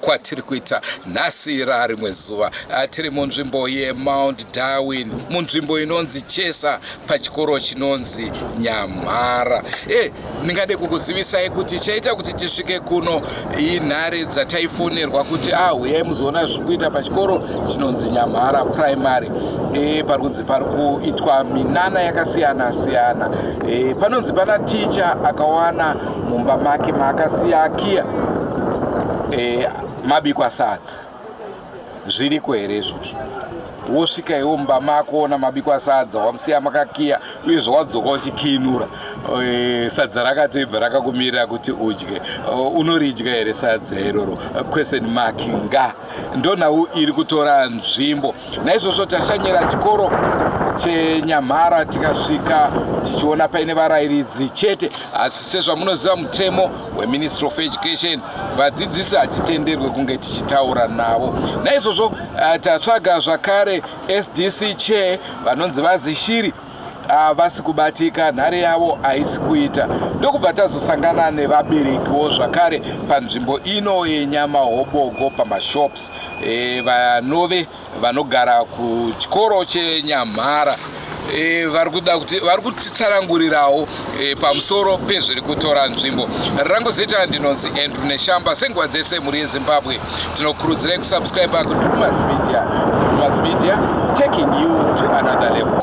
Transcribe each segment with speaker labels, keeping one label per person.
Speaker 1: kwatiri kuita nhasi rarimwe zuva ah, tiri munzvimbo yemount darwin munzvimbo inonzi chesa pachikoro chinonzi nyamhara e eh, ndingade kukuzivisai kuti chaita kuti tisvike kuno inhare dzataifonerwa kuti ahuyai ah, muzoona zviri kuita pachikoro chinonzi nyamhara primary e eh, pari kunzi pari kuitwa minana yakasiyana siyana e panonzi pana ticha akawana mumba make maakasiya akiya e, mabikwa sadza zviriko here izvozvo wosvika iwo mumba mako wona mabikwa sadza wamusiya makakiya uyezve wadzoka uchikiinura e, sadza rakatoibva rakakumirira kuti udye e, unoridya here sadza iroro question mark nga ndonhau iri kutora nzvimbo naizvozvo tashanyira chikoro chenyamhara tikasvika tichiona paine varayiridzi chete asi sezvamunoziva mutemo weministry of education vadzidzisi hatitenderwe kunge tichitaura navo naizvozvo eh, tatsvaga zvakare sdc chair vanonzi vazishiri havasi ah, kubatika nhare yavo haisi kuita ndokubva tazosangana nevaberekiwo zvakare panzvimbo ino yenyama hobogo pamashops e, vanove vanogara kuchikoro chenyamhara e, vari kuda kuti vari kutitsanangurirawo e, pamusoro pezviri kutora nzvimbo rangu zita ndinonzi andrew neshamba senguva dzese mhuri yezimbabwe tinokurudzirai kusubscribe kudrumas media drumas media taking you to another level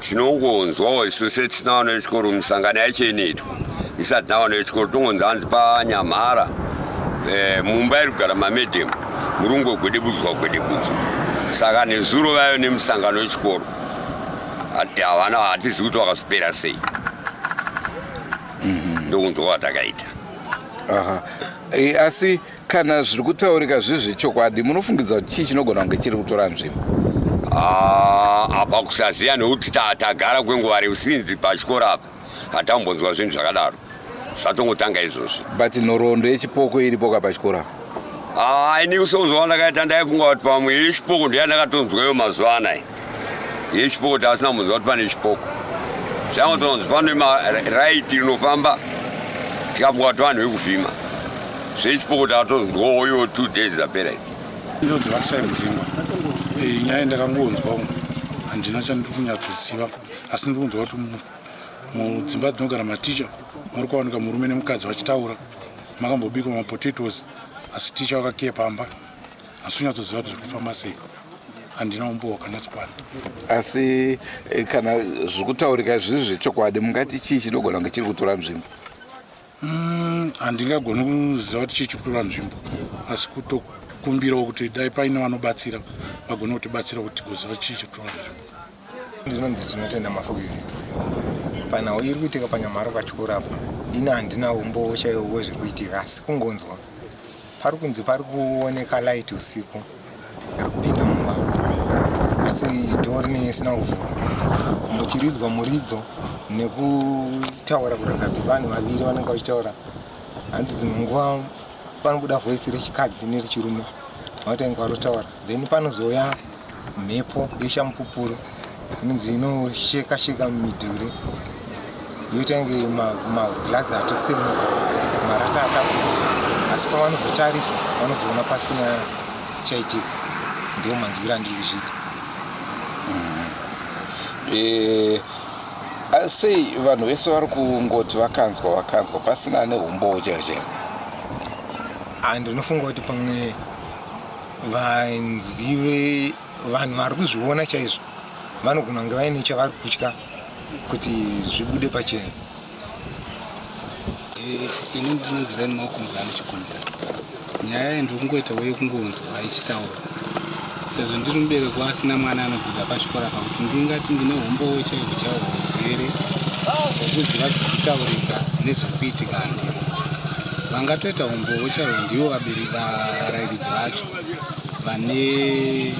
Speaker 1: tinongonzwawo
Speaker 2: isu setisina vana vechikoro misangano yacho inoitwa isati na vana vechikoro tongonzi hanzi panyamhara eh, mumba iri kugara mamedhemu muri kungogwedebudzwa gwedebudzwa saka nezuro vayo nemusangano wechikoro havana hatizivi kuti vakazopera sei mhm. ndokunzwa kwatakaita e,
Speaker 1: asi Kana zviri kutaurika zviri zvechokwadi, munofungidza kuti chii chinogona kunge chiri kutora nzvimbo? Ah,
Speaker 2: apa kusaziva nekuti tagara kwenguva refu sinzi pachikoro apa hatambonzwa zvinhu zvakadaro zvatongotanga izvozvi but nhoroondo
Speaker 1: yechipoko iripo ka pachikoro apa ah, ini kusonzwa
Speaker 2: kwandakaita ndaifunga kuti pamwe yechipoko ndiyandakatonzwayo mazuva anaya yechipoko taasina munzwa kuti pane chipoko zvangu tonzi pane maraiti rinofamba tikafunga kuti vanhu vekuvhima zvechipoko taatonzi ndooyo two days apera iti ndonzi vakisai
Speaker 3: mudzimba eh, nyaya ndakangonzwa umu handina chandiri kunyatsoziva asi ndiri kunzwa kuti mudzimba dzinogara maticha muri kuwanika murume nemukadzi vachitaura makambobikwa mapotatoes asi ticha vakakiye pamba asi unyatsoziva kuti zviri kufamba sei handina umbowo kana chikwana asi
Speaker 1: eh, kana zvikutaurika zviri zvechokwadi mungati chii chinogona kunge chiri kutora nzvimbo mm, handingagoni
Speaker 3: mm, kuziva kuti chii chiri kutora nzvimbo asi kutokumbirawo kuti dai paine vanobatsira vagone kutibatsira kuti tigoziva chii chiri kutora nzvimbo ndinonzi
Speaker 4: tinotenda mafugiri panhau iri kuitika panyamharo pachikoro apo ini handina umbowo chaiwo wezviri kuitika asi kungonzwa pari kunzi pari kuoneka light usiku isina kuvhurwa muchiridzwa muridzo nekutaura kurega vanhu vaviri vanenge vachitaura hanzi dzimwe nguva panobuda voisi rechikadzi nerechirume vanotange kwarotaura then panozouya mhepo yeshamupupuro inonzi inosheka sheka mumidhuri yoita inge maglazi atotsemuka marata atakuda asi pavanozotarisa vanozoona pasina chaitika ndiwo manzwira andiri kuzviita mm-hmm.
Speaker 1: eh, sei vanhu vese vari kungoti vakanzwa vakanzwa pasina ane umbowo chaizvo ah,
Speaker 4: ndinofunga kuti pamwe vanzwi vevanhu vari kuzviona chaizvo vanogona kunge vaine chavari kutya kuti zvibude pachena
Speaker 5: eh, ini ndinonzira nemaoko mvura ndichikumbira nyaya iyi ndiri kungoita uye kungonzwa ichitaura sezvo ndiri mubereko asina mwana anodzidza pachikora pakuti ndingati ndine humbowo chaiko chawo huzere hwekuziva zviri kutaurika nezviri kuitika ndiri vangatoita humbowo chaio ndivo varairidzi vacho vane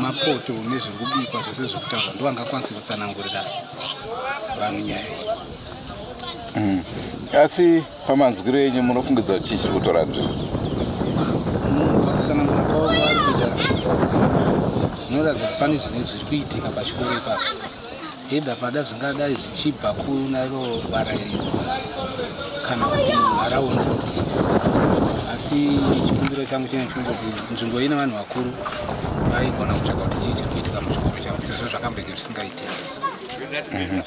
Speaker 5: mapoto nezviri kubikwa Zve zvekutaura ndo angakwanise kutsanangurira vanhu nyaya
Speaker 1: iyi. Mm. Asi pamanzwiro enyu munofungidza kuti chii chiri kutora nzvimbo? Munhu pakutsanangura
Speaker 5: kwavo kwaari kuita zvinoratidza kuti pane zvine zviri kuitika pachikoro ipapo. Either pada zvingadai zvichibva kuna ivo varairidzi kana kuti munharaunda. Asi chikumbiro changu chinenge chinoda kuti nzvimbo ine vanhu vakuru Vaigona kutsvaga kuti chii chiri kuitika muchikomo chavo sezvo zvakambenge zvisingaitiki.
Speaker 1: Mhm.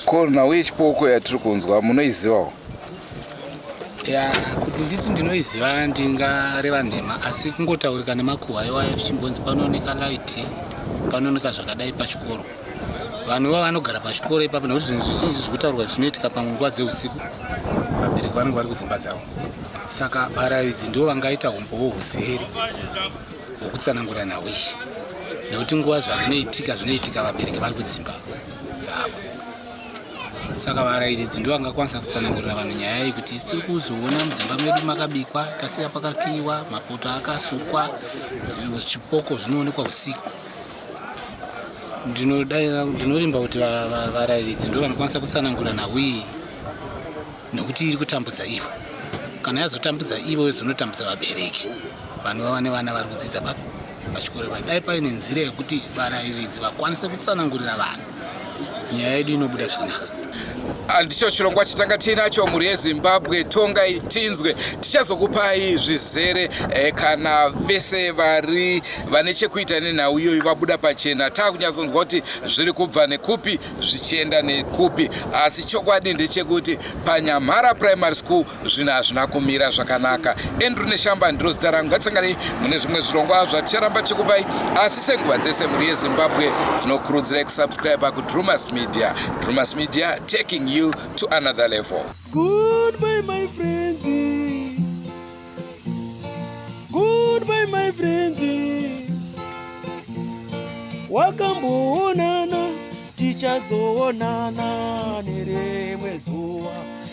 Speaker 1: Korona uye chipoko yatiri kunzwa munoizivawo?
Speaker 5: ya kuti nditi ndinoiziva ndingareva nhema asi kungotaurika nemakuhwa iwayo zvichimbonzi panooneka light panooneka zvakadai pachikoro vanhu iva vanogara pachikoro ipapo nekuti zvinhu zvizhinji zviri kutaurwa zvinoitika panguva dzeusiku vabereki vanenge vari kudzimba dzavo saka varaidzi ndivo vangaita umbowo huzere hwekutsanangura nhau iyi nekuti nguva zvazvinoitika zvinoitika vabereki vari kudzimba dzavo saka varairidzi ndivo vangakwanisa kutsanangurira vanhu nyaya iyi kuti tiri kuzoona mudzimba medu makabikwa tasiya pakakiiwa mapoto akasukwa zvipoko zvinoonekwa usiku ndinorimba kuti varairidzi ndo vanokwanisa kutsanangura nhau iyi nokuti iri kutambudza ivo kana yazotambudza ivo yozonotambudza vabereki vanhu vava nevana vari kudzidza papa pachikoro pa dai paine nzira yekuti varairidzi vakwanise kutsanangurira vanhu nyaya yedu inobuda zvakanaka andicho
Speaker 1: chirongwa chitanga tiinacho mhuri yezimbabwe tongai tinzwe tichazokupai zvizere eh, kana vese vari vane chekuita nenhau iyoyo vabuda pachena taakunyatsonzwa kuti zviri kubva nekupi zvichienda nekupi asi chokwadi ndechekuti panyamhara primary school zvinhu hazvina kumira zvakanaka andrew neshamba ndiro zita rangu ngatisanganei mune zvimwe zvirongwa zvaticharamba chikupai asi senguva dzese mhuri yezimbabwe tinokurudzirai kusubscribe kudrumas media drumas media taking you to another level Goodbye,
Speaker 6: my friends. Goodbye, my friends. wakamboonana tichazoonana nerimwe zuva